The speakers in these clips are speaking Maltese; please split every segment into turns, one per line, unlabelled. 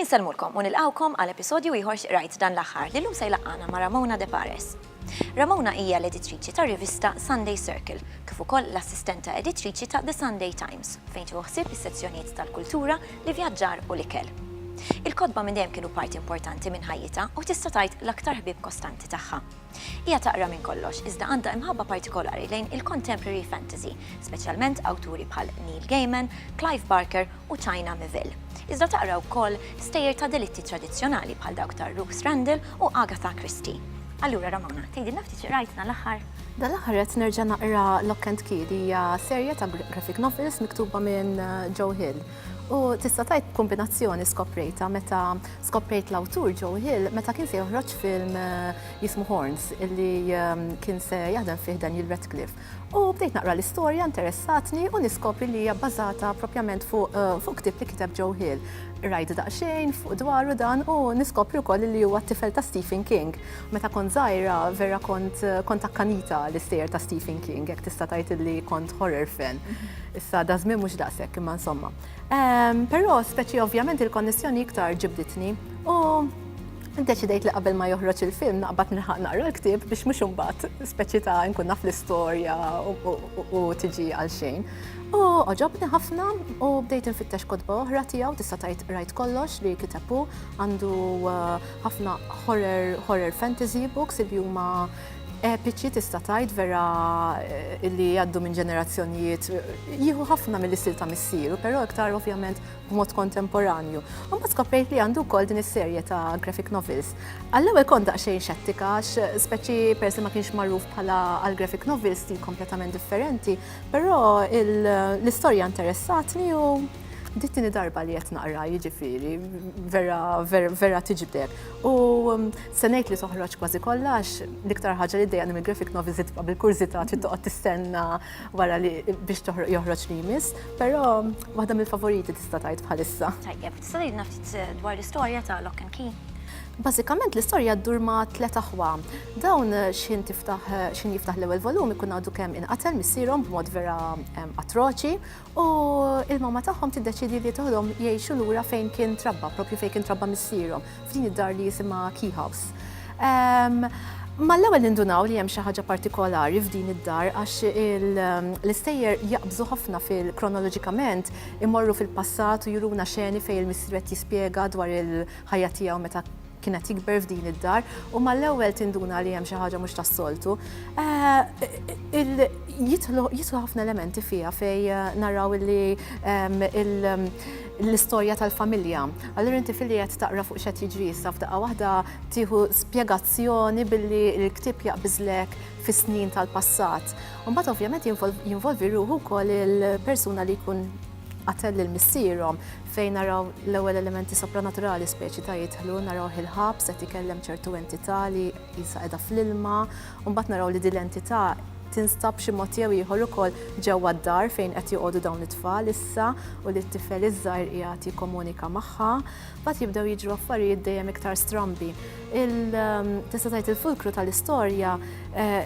Insellmulkom u nilqgħukom għal episodju ieħor x'qrajt dan l-aħħar li llum se jlaqqana ma' Ramona De Pares. Ramona hija l-editriċi tar-rivista Sunday Circle, kif ukoll l-assistenta editriċi ta' The Sunday Times, fejn tieħu ħsieb is-sezzjonijiet tal-kultura, l-ivjaġġar u l-ikel. Il-kotba minn dejjem kienu parti importanti minn ħajjitha u tista' tgħid l-aktar ħbieb kostanti tagħha. Hija taqra minn kollox, iżda għandha imħabba partikolari lejn il-contemporary fantasy, speċjalment awturi bħal Neil Gaiman, Clive Barker u China Miéville, iżda taqra wkoll stejjer ta' delitti tradizzjonali bħal dawk ta' Ruth Randall u Agatha Christie. Allura Ramona, tgħidilna ftit xi qrajtna l-aħħar? Dan l-aħħar qed
nerġa' naqra Lock and Key li hija serje ta' graphic novels miktuba minn Joe Hill. U tista' tgħid kombinazzjoni skoprejtha meta skoprejt l-awtur Joe Hill meta kien se joħroġ film jismu Horns illi kien se jaħdem fih Daniel Radcliffe. U bdejt naqra l-istorja, interessatni u niskopri li hija bbażata propjament fuq fuq ktieb li kiteb Joe Hill. Qrajt daqsxejn fuq dwaru dan u niskopri wkoll li huwa t-tifel ta' Stephen King. Meta kont żgħira vera kont kont akkanita għall-istejjer ta' Stephen King, hekk tista' tgħid illi kont horror fan. Issa daż-żmien mhux daqshekk imma insomma. Però speċi ovvjament il-konnessjoni iktar ġibditni u Iddeċidejt li qabel ma joħroġ il-film naqbad nilħaq naqra l-ktieb biex mhux imbagħad speċi ta' nkun naf l-istorja u tiġi għal xejn. U għoġobni ħafna u bdejt infittex kotba oħra tiegħu tista' tgħid rajt kollox li kitabu għandu uh, ħafna horror, horror fantasy books li huma epiċi tista' tgħid vera eh, li jgħaddu minn ġenerazzjonijiet jieħu ħafna mill-istil ta' missieru, però iktar ovvjament b'mod kontemporanju. Imbagħad skoprejt li għandu wkoll din is-serje ta' graphic novels. Għall-ewwel kont daqsxejn xettika għax speċi peress li ma kienx magħruf bħala għal graphic novels stil kompletament differenti, però l-istorja interessatni u dittini darba li qed naqra jiġifieri vera vera tiġbdek. U se ngħid li toħroġ kważi kollha għax l-iktar ħaġa li ddejjaqni mill-graphic novels li tibqa' bil-kurżità trid toqgħod tistenna wara li biex joħroġ li jmiss, però waħda mill-favoriti tista' tgħid bħalissa. Tajjeb, tista' tgħidna
ftit eh, dwar l-istorja ta' Lock and Key? Bażikament
l-istorja ddur ma' tliet aħwa. Dawn eh, xin tiftaħ eh, xin jiftaħ l-ewwel volum ikun għadu kemm inqatel missierhom b'mod vera atroċi U il-mamma tagħhom tiddeċiedi li toħodhom jgħixu lura fejn kien trabba, propju fejn kien trabba missierhom, f'din id-dar li jisimha Key House. Ehm, Mal-ewwel nindunaw li hemm xi ħaġa partikolari f'din id-dar għax ehm, l-istejjer jaqbżu ħafna fil-kronoloġikament imorru fil-passat u juruna xeni fejn il-missier qed jispjega dwar il-ħajja tiegħu meta kien qed jikber f'din id-dar u mal-ewwel tinduna li hemm xi ħaġa mhux tas-soltu. Eh, jidħlu ħafna elementi fiha fej eh, naraw li ehm, ehm, l-istorja tal-familja. Allura inti filli qed taqra fuq xed jiġri issa f'daqqa waħda tieħu spjegazzjoni billi l-ktieb jaqbiżlek fis-snin tal-passat. Mbagħad ovvjament jinvolvi ruħu wkoll il-persuna li jkun qatel lil missierhom, fejn naraw l-ewwel elementi sopranaturali speċi ta' jidħlu, naraw il-ħabs qed ikellem ċertu entità li jisa qiegħda fl-ilma, u mbagħad naraw li din l-entità tinstab xi mod jew ieħor ukoll ġewwa d-dar fejn qed joqogħdu dawn it-tfal issa u li t-tifel iż-żgħir qiegħed jikkomunika magħha. Mbagħad jibdew jiġru affarijiet dejjem iktar strambi. Tista' tgħid il-fulkru tal-istorja eh,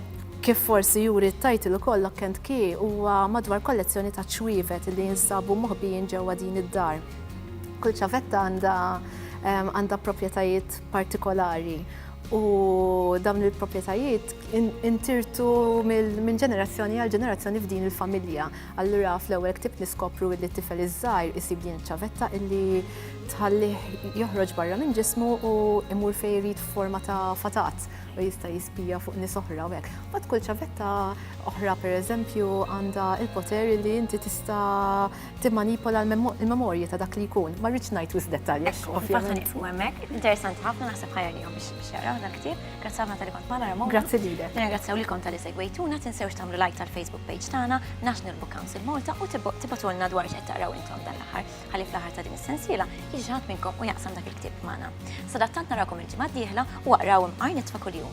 kif forsi juri t-tajtil ukoll Lock and Key huwa madwar kollezzjoni ta' ċwievet li jinsabu moħbijin ġewwa din id-dar. Kull ċavetta għandha eh, għandha proprjetajiet partikolari u dawn il-proprjetajiet intirtu minn ġenerazzjoni għal ġenerazzjoni f'din il-familja. Allura fl-ewwel ktibt niskopru illi t-tifel iż-żgħir isib din iċ-ċavetta illi tħallih joħroġ barra minn ġismu u imur fejn irid f'forma ta' fatat u jista' jispija fuq nies oħra u hekk. Bad kull ċavetta oħra pereżempju għandha il-poter li inti tista' timmanipola l-memorji ta' dak li jkun. Ma rridx ngħid wisq dettalji. Ovvjament. Interessanti ħafna
naħseb ħajja li biex jaraw dak ktieb. Grazzi ħafna tal-li kont magħna Ramona. Grazzi lilek. Nirringrazzjaw
lilkom tal-li
segwejtuna, tinsewx tagħmlu like tal-Facebook page tagħna, National Book Council Malta u tibatulna dwar x'qed taqraw intom dan l-aħħar. Ħalli fl-aħħar ta' din is-sensiela jiġi ħadd minnkom u jaqsam dak il-ktieb magħna. Sadattant narakom il-ġimgħa d-dieħla u aqraw imqar nitfa' kuljum.